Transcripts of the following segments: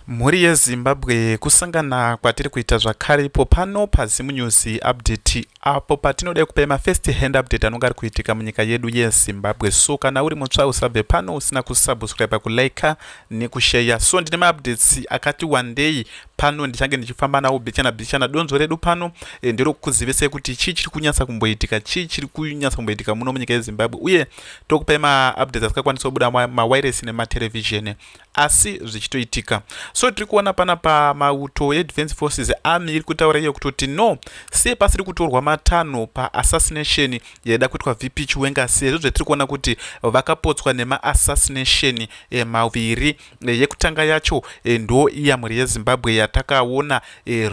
Mhuri yeZimbabwe kusangana kwatiri kuita zvakare ipo pano paZim News Update apo patinoda kupai mafirst hand update anonga ari kuitika munyika yedu yeZimbabwe so kana uri mutsva usabve pano usina kusubscribe kulika nekusheya so ndine maupdates akati wandei pano ndichange ndichifamba nawo bichana bichana donzvo redu pano e, ndiro kukuzivisai kuti chii chiri kunyatsa kumboitika chii chiri kunyatsa kumboitika muno munyika yeZimbabwe uye tokupai maupdates asingakwanisa kubuda mawairesi nematerevhizheni asi zvichitoitika so tiri kuona pana pamauto edefense forces army iri kutaura iyo kutoti no sei pasiri kutorwa matanho paassassination yaida kuitwa vp chiwenga sezvo zvetiri kuona kuti vakapotswa nemaassassination eh, maviri eh, yekutanga yacho eh, ndo iya mhuri yezimbabwe yatakaona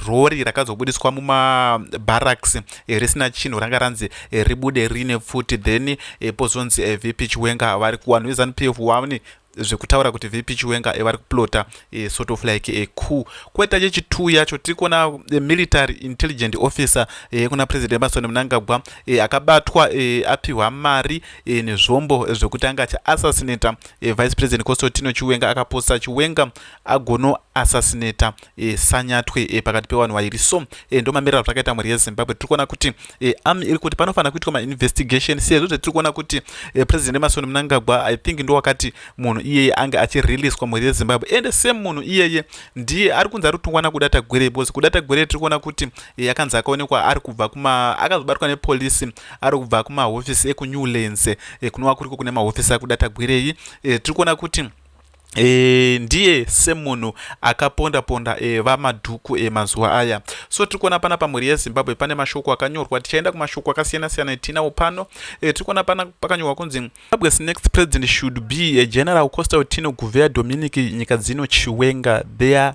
rori rakazobudiswa mumabarracks risina chinhu ranga ranzi ribude rine pfuti then pozonzi vp chiwenga vari kuwanhu vezanup f wani zvekutaura kuti vp chiwenga eh, vari kuplota eh, sort of like a eh, coup kweta chechitu yacho tiri kuona eh, military intelligent officer eh, kuna president emerson mnangagwa eh, akabatwa eh, apiwa mari eh, nezvombo zvekuti anga achiassassinata eh, vice president constantino chiwenga akaposa chiwenga agonoassassinata e, sanyatwe e, pakati pevanhu vairi so e, ndo mamiriro azvakaita mhuri yezimbabwe tiri kuona kuti e, ami iri kuti panofanira kuitwa mainvestigation sezvo zvetiri kuona kuti e, president emasoni munangagwa i think ndo wakati munhu iyeye ange achireleaswa mhuri yezimbabwe ende same munhu iyeye ndiye ari kunzi ari kutongwa nakuda tagwere because kuda tagwere tiri kuona kuti e, akanzi akaonekwa ari kubva kuma akazobatwa nepolisi ari kubva kumahofisi ekunewlands e, kunova kuriko kune mahofisi akuda tagwerei e, tiri kuona kuti E, ndiye semunhu akaponda ponda e, eh, vamadhuku e, eh, mazuva aya so tiri kuona pana pamhuri yezimbabwe pane mashoko akanyorwa tichaenda kumashoko akasiyana siyana etinawo pano e, tiri kuona pana pakanyorwa kunzi zimbabwe's next president should be a general costa utino guvea dominic nyika dzino chiwenga their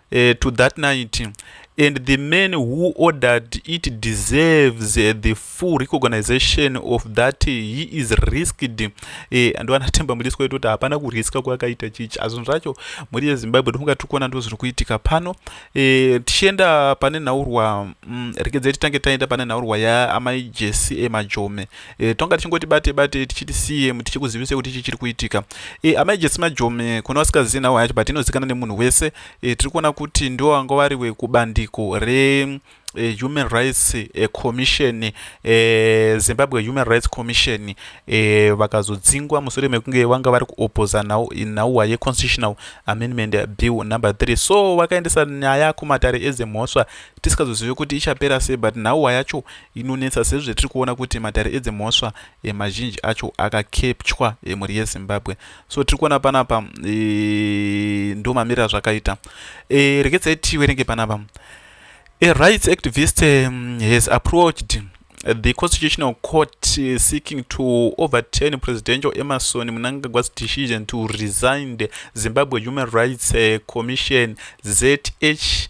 uh, to that night and the man who ordered it deserves uh, the full recognisation of that uh, he is risked eh, ando anatemba mudisi kwaito kuti hapana kuriska kwakaita chichi azvinhu zvacho mhuri yezimbabwe ndofunga tiri kuona ndo zviri kuitika pano eh, tichienda pane nhaurwa mm, rekedze titange taenda pane nhaurwa yaamai jesi emajome e, tonga tichingoti bate bate tichiti cm tichikuzivisei kuti ichi chiri kuitika e, amai jesi majome kune vasikazii nhau yacho but inozikana nemunhu wese e, tiri kuona kuti ndiwo vanga vari wekubandiko re eh, human rights eh, commission eh, zimbabwe human rights commission eh, vakazodzingwa mushure mekunge vanga vari kuopoza nhauwa yeconstitutional amendment bill number 3 so vakaendesa nyaya kumatare edzemhosva tisikazozive kuti ichapera sei but nhauwa yacho inonetsa sezvo tiri kuona kuti matare edzimhosva e, mazhinji acho akakepchwa emhuri e, yezimbabwe so tiri kuona panapa e, ndo mamiriro azvakaita e, rekedzai tiwerenge panapa a rights activist um, has approached the constitutional court uh, seeking to overturn presidential emerson mnangagwa's decision to resign the zimbabwe human rights uh, commission zh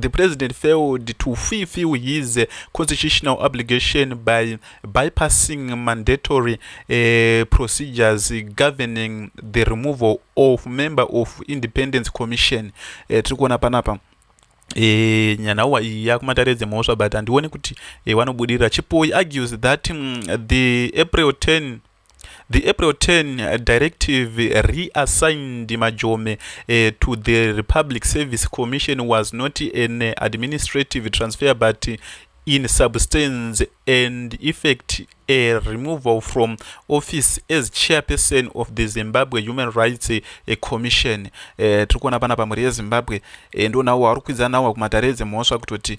the president failed to fulfill his uh, constitutional obligation by bypassing mandatory uh, procedures governing the removal of member of independence commission uh, tiri kuona panapa E, eh, nyanauwa iyi yakumatare dzemhosva but handione kuti e, eh, wanobudirira chipoyi argues that mm, the april 10 The April 10 directive reassigned Majome uh, to the Republic Service Commission was not an administrative transfer but in substance and effect a removal from office as chairperson of the zimbabwe human rights eh, commission eh, tiri kuona pana pamhuri yezimbabwe eh, ndonawo ari kukwidza nawo kumatare edzemhosva kutoti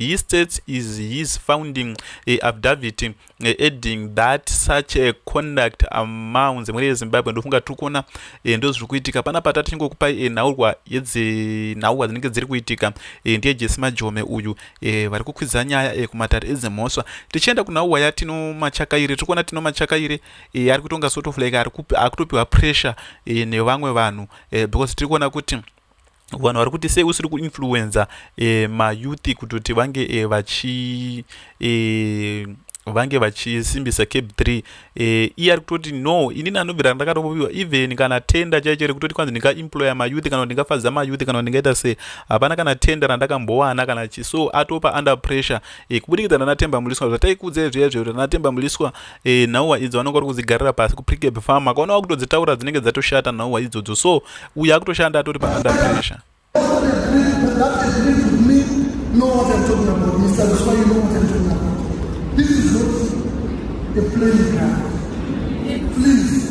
He states is his founding a eh, affidavit eh, adding that such a conduct amounts emhuri yezimbabwe ndofunga tiri kuona eh, ndozviri kuitika pana pata tichingokupai nhaurwa yedzinhaurwa dzinenge dziri kuitika ndiye jesi majome uyu vari kukwidza nyaya kumatare edzimhosva tichienda kunhaurwa yatino machakaire tiri kuona tino machakaire ari kutonga sort of like akutopiwa pressure nevamwe vanhu because tiri kuona kuti vanhu vari kuti sei usiri kuinfluenza eh, mayouth kutoti vange eh, vachi eh, vange vachisimbisa cape 3 eh, iye ari kutoti no inini anobvira ndakatoviwa even kana tenda chaicho rekutoti kwanzi ndingaemploya mayouth kana kuti ndingafadza mayouth kana kuti ndingaita se hapana kana tenda randakambowana kana chi so atopa under pressure eh, kubudikidza nanatemba muliswa zvataikuudzai zviya zviya kuti nanatemba muliswa e, nhauwa idzo vanenge vari kudzigarira pasi kuprikeb farm akaona vakutodzitaura dzinenge dzatoshata nhauwa idzodzo so uye akutoshanda atori paanda pressure Please.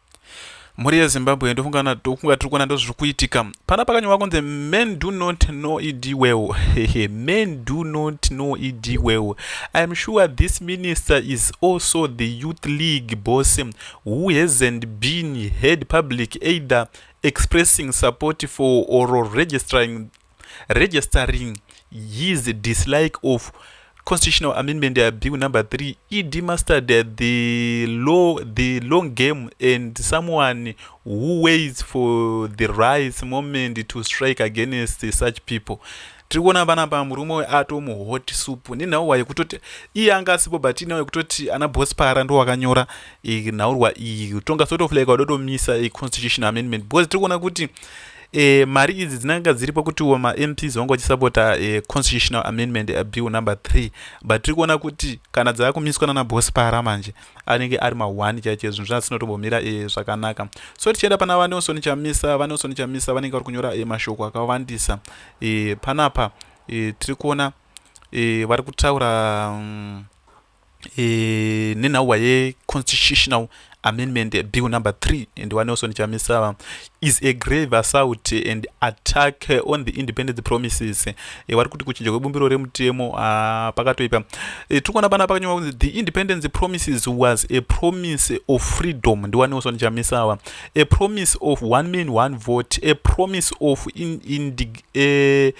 mhuri yezimbabwe ndofunga ndokunga tiri kuona ndozviri kuitika pana pakanyorwa kunzi men do not know ed well hehe men do not know ed well iam sure this minister is also the youth league boss who hasn't been heard public either expressing support for or registering registering his dislike of constitutional amendment ya bill number 3 ed mastered the law the long game and someone who waits for the rights moment to strike against such people tiri kuona vana pa murume uyo atomuhot soup nenhauwa yekutoti iye anga asipo but inhauwa yekutoti ana bos para ndo wakanyora nhaurwa iyi tonga sort of like wadotomisa constitutional amendment because tiri kuona kuti E, mari idzi dzinanga dziripo kutiwo mamps vanga vachisapota e, constitutional amendment abill number 3 but tiri kuona kuti kana dzava kumiswa nana boss para manje anenge ari ma1 chaiche zvinhu zvasinotombomira e, zvakanaka so tichienda pana vanelson chamisa vanelson chamisa vanenge vari kunyora e, mashoko akawandisa e, panapa e, tiri kuona e, vari kutaura um, e, nenhauwa yeconstitutional amendment bill number 3 and wanelson chamisava is a grave assault and attack on the independence promises e, vari kuti kuchinja kwebumbiro remutemo uh, pakatoipa e, tiri kuona pana pakanyorwa kunzi the independence promises was a promise of freedom ndiwanelson chamisava a promise of one man one vote a promise of in, in, uh,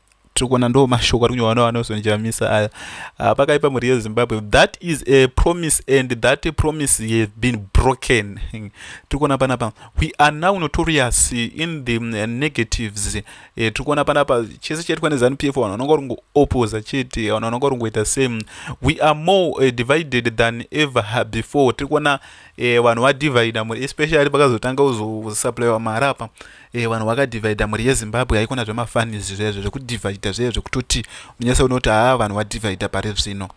tiri kuona ndo mashoko ari kunyorwa navanelson chamisa aya ah, pakaipa mhuri yezimbabwe that is a promise and that a promise has been broken tiri kuona panapa we are now notorious in the mm, negatives eh, tiri kuona panapa chese chaitwa nezanu p f vanhu vanonga vari kungoopposa chete vanhu vanonga vari kungoita same we are more eh, divided than ever before tiri kuona eh, vanhu vadivida mhuri especially pakazotanga kuzosupplywa mari apa Eh, vanhu vakadivhaidha mhuri yezimbabwe haikona zvemafanis zvezvo zvekudivhaidha zvee zvekutoti unyese unoti haa vanhu vadivhaidha pari zvino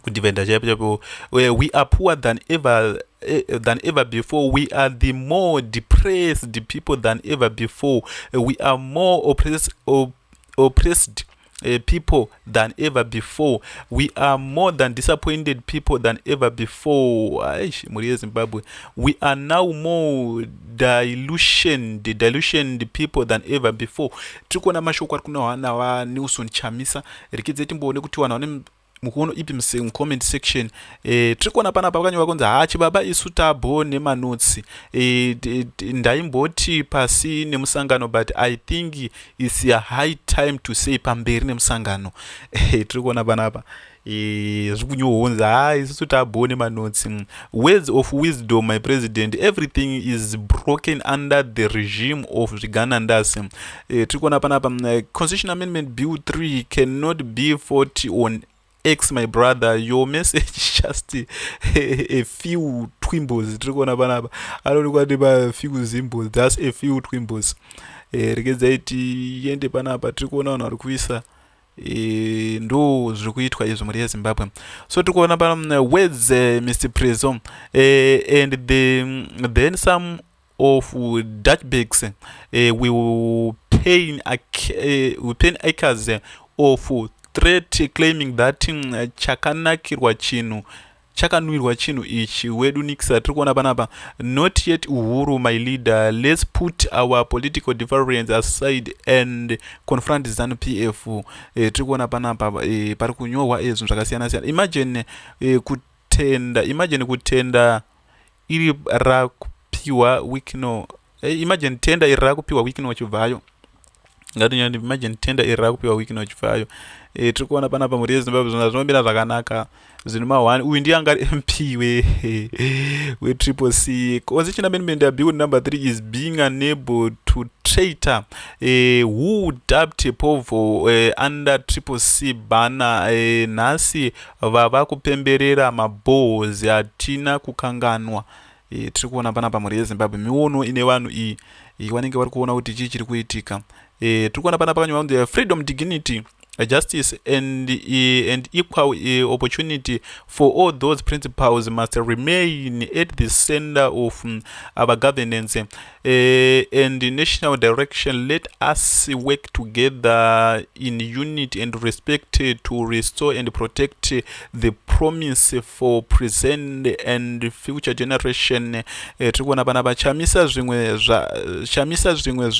kudivhaidha chaipo chaipo eh, we are poor than ever eh, than ever before we are the more depressed people than ever before we are more oppressed, op, oppressed uh, people than ever before we are more than disappointed people than ever before aish mhuri yezimbabwe we are now more dilutioned dilutioned people than ever before tiri kuona mashoko ari kunohwa navanilson chamisa rikidze timboone kuti vanhu vane mukuono ipi muse mucomment section e, tiri kuona pana pa vakanyorwa kunzi haa chibaba isu tabo nemanotsi e, eh, ndaimboti pasi nemusangano but i think its a high time to say pamberi nemusangano e, tiri kuona panapa e, zviri kunyohonzi haa isusu tabo nemanotsi mm. words of wisdom my president everything is broken under the regime of zviganandasi eh, tiri kuona panapa uh, mm, constitution amendment bill 3 cannot be 40 on x my brother your message just a, a few twimbos tiri kuona panapa anoonekwa ndi pafew zimbos thus a few twimbos eh, regedzai tiende panapa tiri kuona vanhu vari kuisa E, ndo zviri kuitwa izvo mhuri yezimbabwe so tiri kuona pa mm, words uh, mr preso uh, and the, mm, then some of dutch bags uh, eh, will pay uh, eh, will pay acres eh, of threat claiming that mm, uh, chakanakirwa chinhu chakanwirwa chinhu ichi wedu nikisa tiri kuona panapa not yet uhuru my leader let's put our political difference aside and confront zanu p f e, tiri kuona panapa e, pari kunyorwa ezvinhu zvakasiyana siyana imagine e, kutenda imagine kutenda iri rakupiwa wikino eh, imagine tenda iri rakupiwa wikino chibvayo ngatinyani imagine tenda iri rakupiwa wikino chibvayo e, eh, tiri kuona panapa mhuri yezimbabwe zvona zvinomira zvakanaka zvinhu mahwani uyu ndiye angari mp wetriple c constitution amendment abill number three is being unable to traitor eh, who dubbed povo eh, under triple c bana eh, nhasi vava kupemberera mabohos hatina kukanganwa e, tiri kuona pana pamhuri yezimbabwe miono ine vanhu iyi e, vanenge vari kuona kuti chii chiri kuitika e, tiri kuona pana pakanyorwa kunzi freedom dignity justice and, e, and equal e, opportunity for all those principles must remain at the center of um, our governance uh, and the national direction let us work together in unity and respect uh, to restore and protect uh, the promise for present and future generation uh, tiri kuona pana vachamisa zvimwe zvachamisa zvimwe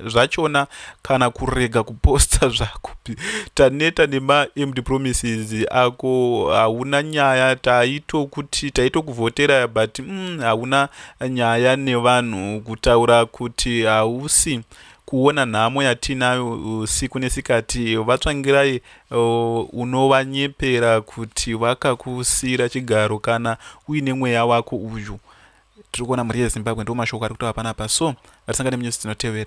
zvachona kana kurega kuposta zvakupi taneta nemaemd promises ako hauna nyaya taitokuti taitokuvhotera but mm, hauna nyaya nevanhu kutaura kuti hausi kuona nhamo yatiinayo uh, siku nesikati vatsvangirai uh, unovanyepera kuti vakakusiyira chigaro kana uine mweya wako uyu tiri kuona mhuri yezimbabwe ndo mashoko ari kutaura panapa so vatisangane munyusi dzinotevera